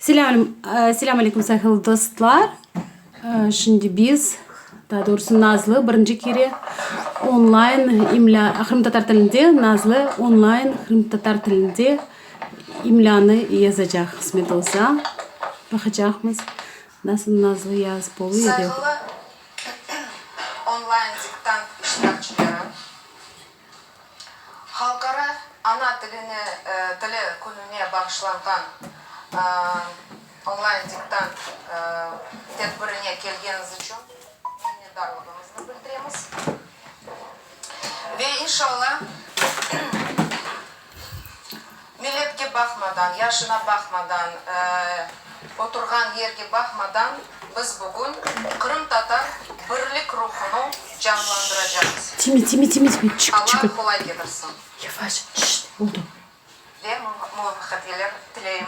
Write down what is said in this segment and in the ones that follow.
Selâm aleyküm sahil dostlar. Şimdi biz, daa doğrusı Nazlı birinci kere onlayn imlâ, qırımtatar tilinde, Nazlı onlayn qırımtatar tilinde imlânı yazacaq, qısmet olsa. Baqacaqmız, nasıl Nazlı yazıp olu ya da yoq. Sayılı onlayn diktant iştirakçileri, Halqara ana tilini tili kününe bağışlanğan onlayn diktant tedbirine kelgeniz içün minnetdarlığımıznı bildiremiz ve inşalla Milletke baqmadan, yaşına baqmadan, oturğan yerge baqmadan biz bugün qırımtatar birlik ruhunu canlandıracağız. Alla qolay getirsin ve muvafaqatler tileyim.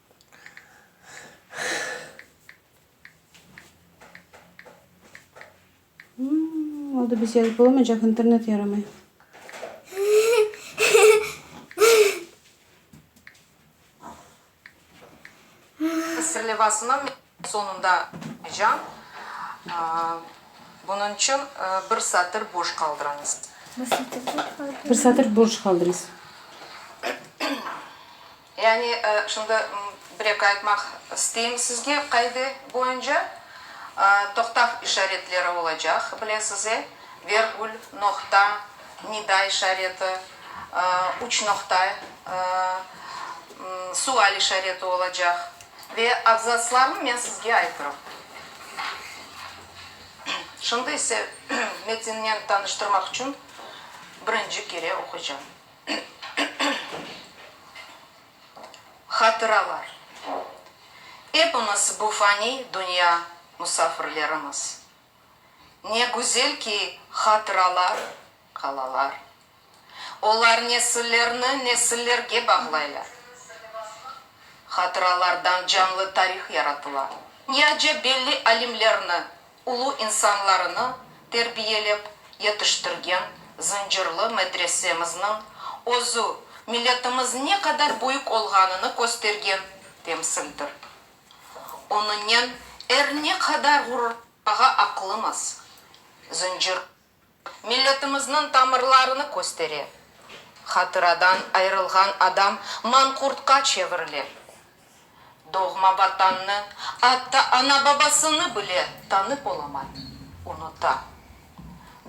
Oldı biz yazıp olamaycaq internet yaramay. Sırlevasını Soñunda can, bunıñ içün bir satır boş qaldırıñız. Bir satır boş qaldırıñız. Yani, şimdi bir eki aytmaq isteyim sizge, qaide boyunca toqtav işaretleri olacaq, bilesiz, e, vergül, noqta, nida işareti, üç noqta, sual işareti olacaq. Ve abzatslarnı men sizge aytırım. Şimdi ise metinnen tanıştırmaq içün birinci kere oquycam. Hatıralar. Epimiz bu faniy dünya musafirlerimiz. Ne güzel ki, hatıralar qalalar. Olar nesillerni nesillerge bağlaylar. Hatıralardan canlı tarih yaratıla. Ne acep belli alimlerni, ulu insanlarını terbiyelep yetiştirgen Zıncırlı medresemizniñ özü milletimiz ne qadar büyük olğanını köstergen temsildir. Onıñnen er ne qadar ğururlanmağa aqlımız. Zıncırlı. Milletimizniñ tamırlarını köstere. Hatıradan ayırılğan adam manqurtqa çevirile. Doğma Vatannı, atta ana-babasını bile tanıp olamay, unuta.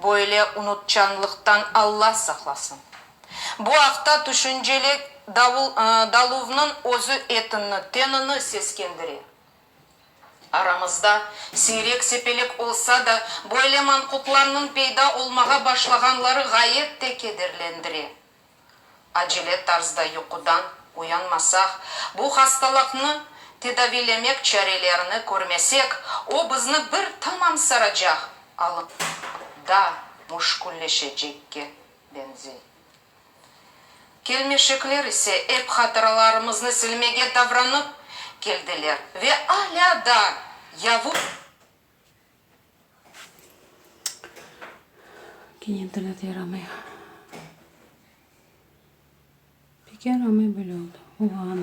Böyle unutçanlıqtan Alla saqlasın. Bu aqta tüşünceli Daluvnıñ özü etinni, tenini seskendire. Aramızda siyrek-sepelek olsa da, böyle manqurtlarnıñ peyda olmağa başlağanları ğayet de kederlendire. Acele tarzda yuqudan uyanmasaq, bu hastalaqnı tedaviylemek çarelerini körmesek, o bizni bir tamam saracaq, alınıp da müşkülleşecekke beñzey. Kelmeşekler ise ep hatıralarımıznı silmege davranıp keldiler ve alâ da yavuş. Gene internet yaramay. Pek yaramay böyle oldı. Oğaanım.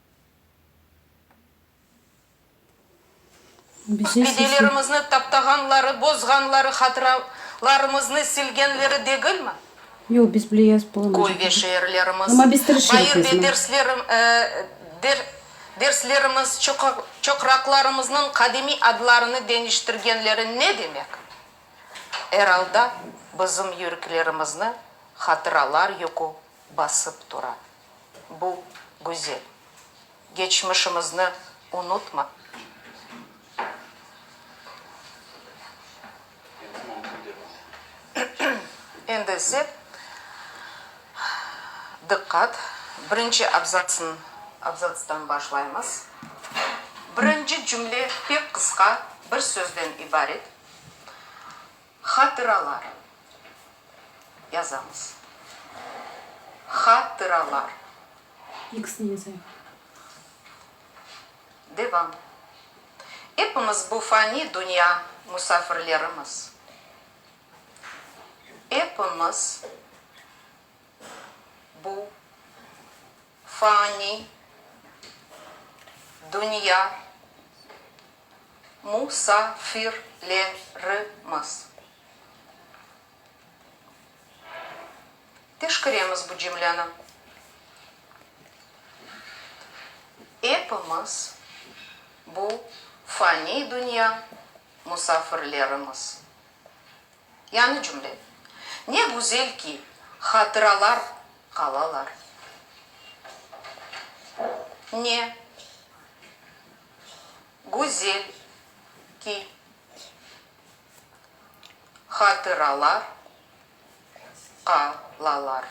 Bedelerimizni taptağanları, bozğanları, hatıralarımıznı silgenleri degilmi? Köy ve şeerlerimiz, bayır ve derslerimiz, çoqraqlarımıznıñ qadimiy adlarını deñiştirgenleri ne demek? Er alda bizim yüreklerimizni hatıralar yükü basıp tura. bu güzel geçmişimizni unutma. Endi ise diqqat, birinci abzatsın, abzatstan başlaymız. Birinci cümle pek qısqa, bir sözden ibaret. Hatıraları yazamız. Hatıralar. İkisini yazayıq. Devam. Epimiz bu fani dünya musafirlerimiz. Epimiz bu fani dünya mu-sa-fir-le-ri-miz. Teşkiremiz bu cümleni. Epimiz bu faniy dünya musafirlerimiz. Yañı cümle, Ne güzel ki, hatıralar qalalar. Ne. Güzel ki, hatıralar qalalar.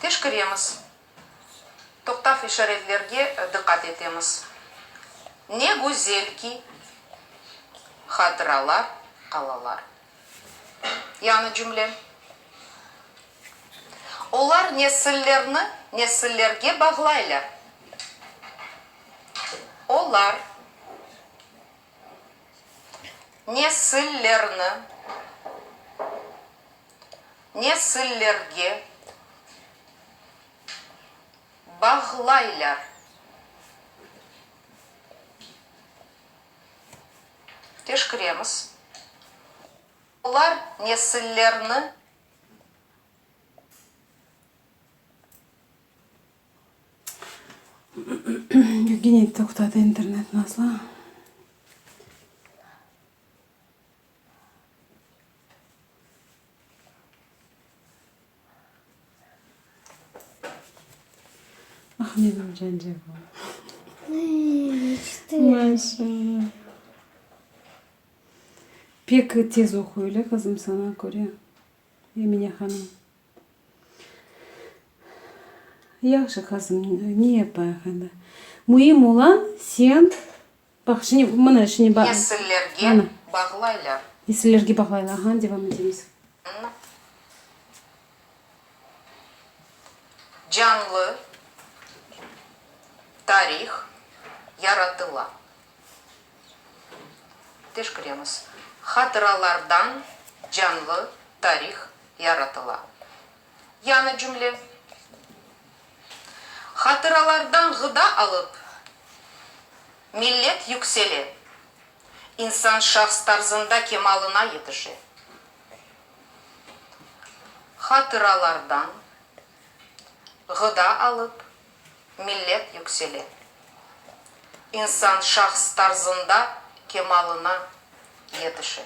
Teşkiremiz, toqtav işaretlerge diqqat etemiz. Ne güzel ki, hatıralar qalalar. Yani cümle. Olar nesillerni nesillerge bağlaylar. Olar nesillerni nesillerge bağlaylar. Teşkiremiz olar nesillerni. Gene toqtadı internet Nazlı. Ah, menim cancağım. Maşallah. Pek tez oquy, öyle qızım, saña köre, Emine hanım. Yahşı qızım, ne yapayıq endi? Müim ola, sen Baq, şimdi, mına, şimdi ba-. Nesillerge bağlaylar. Nesillerge bağlaylar, aha, devam etemiz. Canlı tarih yaratıla. Teşkiremiz. Hatıralardan canlı tarih yaratıla. Yañı cümle. Hatıralardan ğıda alıp, millet yüksele, insan şahs tarzında kemalına yetişe. Hatıralardan ğıda alıp, millet yüksele, insan şahs tarzında kemalına yetişe.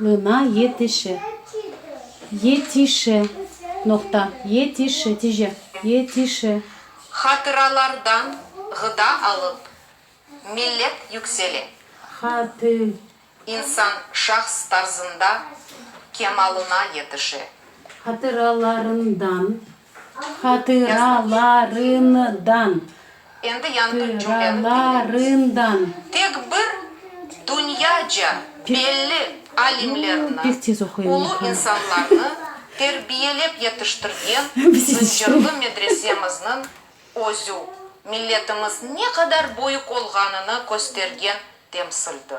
Ğına yetişi. Yetişi. Noqta. Yetişi. Tice. Yetişi. Hatıralardan ğıda alıp, millet yüksele. Hatı. İnsan şahs tarzında kemalına yetişe. Hatıralarından Hatıralarından, tıralarından. Tek bir dünyaca belli alimlerni, ulu insanlarnı terbiyelep yetiştirgen Zıncırlı medresemizniñ özü, milletimiz ne qadar büyük olğanını köstergen temsildir.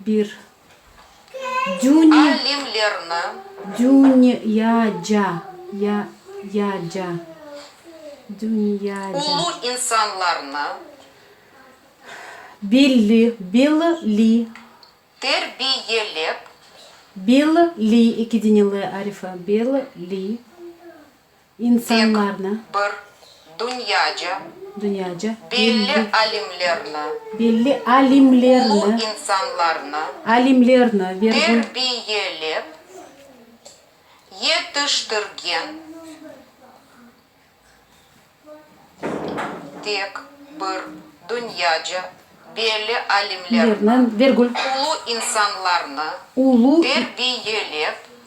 Bir dünya. Alimlerni. Dünya ya ca ya ya ca dünya ca. Ulu insanlarnı. Belli belli li. Terbiyelep. Belli li iki dine le arifi belli li. insanlarnı, tek bir dünyaca, dünyaca, belli alimlerni, belli alimlerni, ulu insanlarnı, alimlerni, terbiyelep yetiştirgen tek bir dünyaca, belli alimlerni, ulu insanlarnı, terbiyelep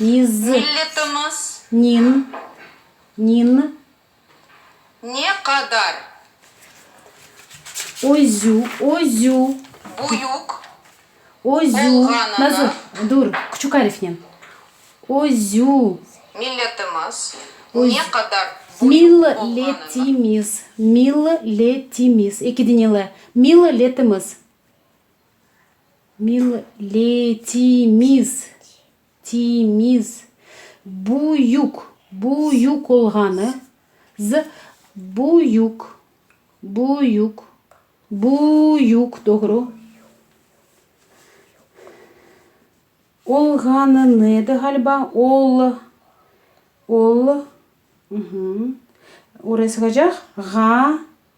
Niz. Milletimiz. Nin. Nin. Ne qadar. Özü, özü. Büyük. Özü. Olğanını. Nazır, dur, küçük arifnen. Özü. Milletimiz. Ne qadar büyük olğanını. Milletimiz, milletimiz, eki dinele, milletimiz. Milletimiz, timiz, büyük, büyük olğanı, z, büyük, büyük, büyük, doğru, olğanını edi ğaliba, ol, ol, hı hı, oraya sığacaq, ğa.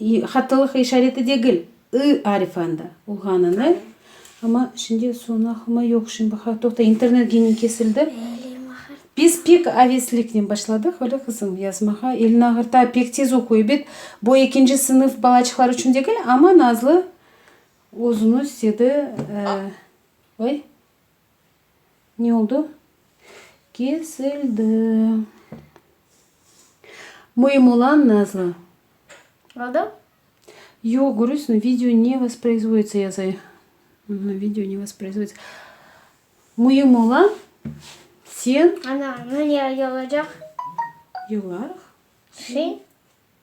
İ hattılıq işareti degil, ı arifi anda olğanını, amma şimdi sonahıma yoq şimdi baqa, toqta, internet gene kesildi. Biz pek avesliknen başladıq, öyle qızım, yazmağa, elini ağırta, pek tez oquy, ebet, bu ekinci sınıf balaçıqlar içün degil, amma Nazlı özüniz dedi, e, oy. Ne oldu? Kesildi. Müim olan nazlı. Oldu? Yoq, görürsün, video ne vosproizvoditsa yazay. Video ne vosproizvoditsa. Müim olan sen. Ana, ne olacaq? Yolarıq. Şey.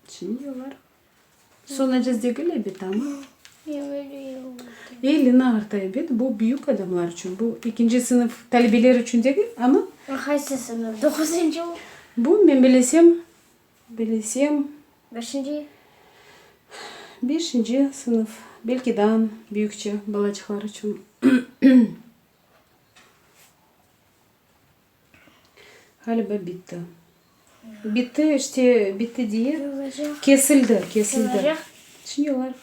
Şimdi olar sonacaz degil ebet, amma. Elli nağırta ebet, bu büyük adamlar içün, bu ekinci sınıf talebeler içün degil, amma. Qaysı sınıf? Doquzıncı mı? Bu men bilesem, bilesem. Beşinci? Beşinci sınıf, belki daan büyükçe balacıqlar içün. Ğaliba bitti. Bitti, işte bitti diye. Sığacaq. Kesildi, kesildi. Sığacaq. Şimdi olar.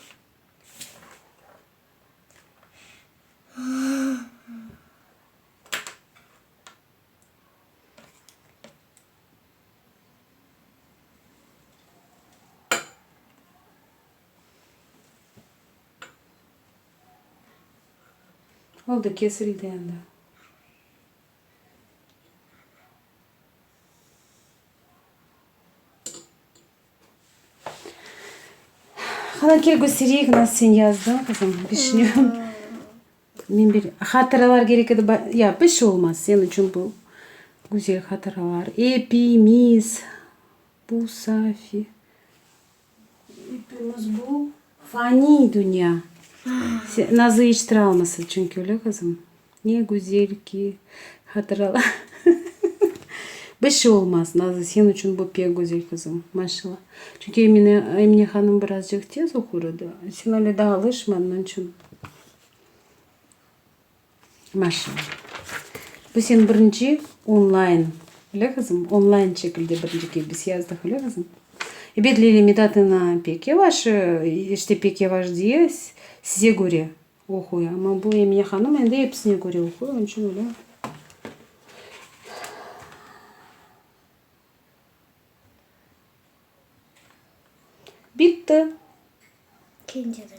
Oldu, kesildi endi. Haneke Gusiriyevna, sen yazdıñ qızım, bişünüvim. Men bir hatıralar kerek edi, ya, bir şey olmaz, sen içün bu güzel hatıralar. Epimiz, bu Safi. Epimiz bu faniy dünya. Nazı iç travmasız çünki, öyle qızım? Ne güzel ki hatıralar. Bir şey olmaz, Nazı, sen içün bu pek güzel, qızım. Maşallah. Çünki Emine, Emine hanım birazcıq tez oqur edi. Sen öyle daa alışmadın, onıñ içün. Maşallah. Bu sen birinci onlayn, öyle kızım? Onlayn şekilde birinci kebis yazdıq, öyle kızım? Ebet Leyla Medat'ına pek yavaş, işte pek yavaş diye size köre oquy. Ama bu Emine hanım endi episine köre oquy, onıñ içün öyle. Bitti. Kinceden.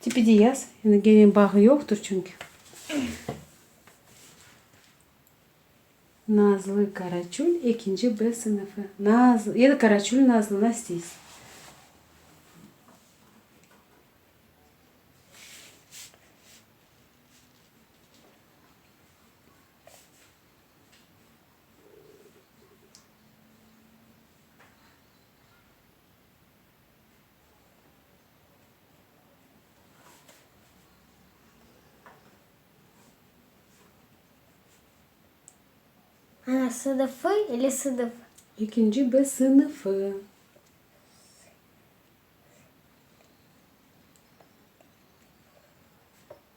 Tipi de yaz, yani gene bağı yoqtur çünki. Nazlı Karaçul, ekinci B sınıfı. Nazlı, ya da Karaçul Nazlı, nasıl isteysiz. Ana, sıdıfı ile sıdıf. Ekinci B sınıfı.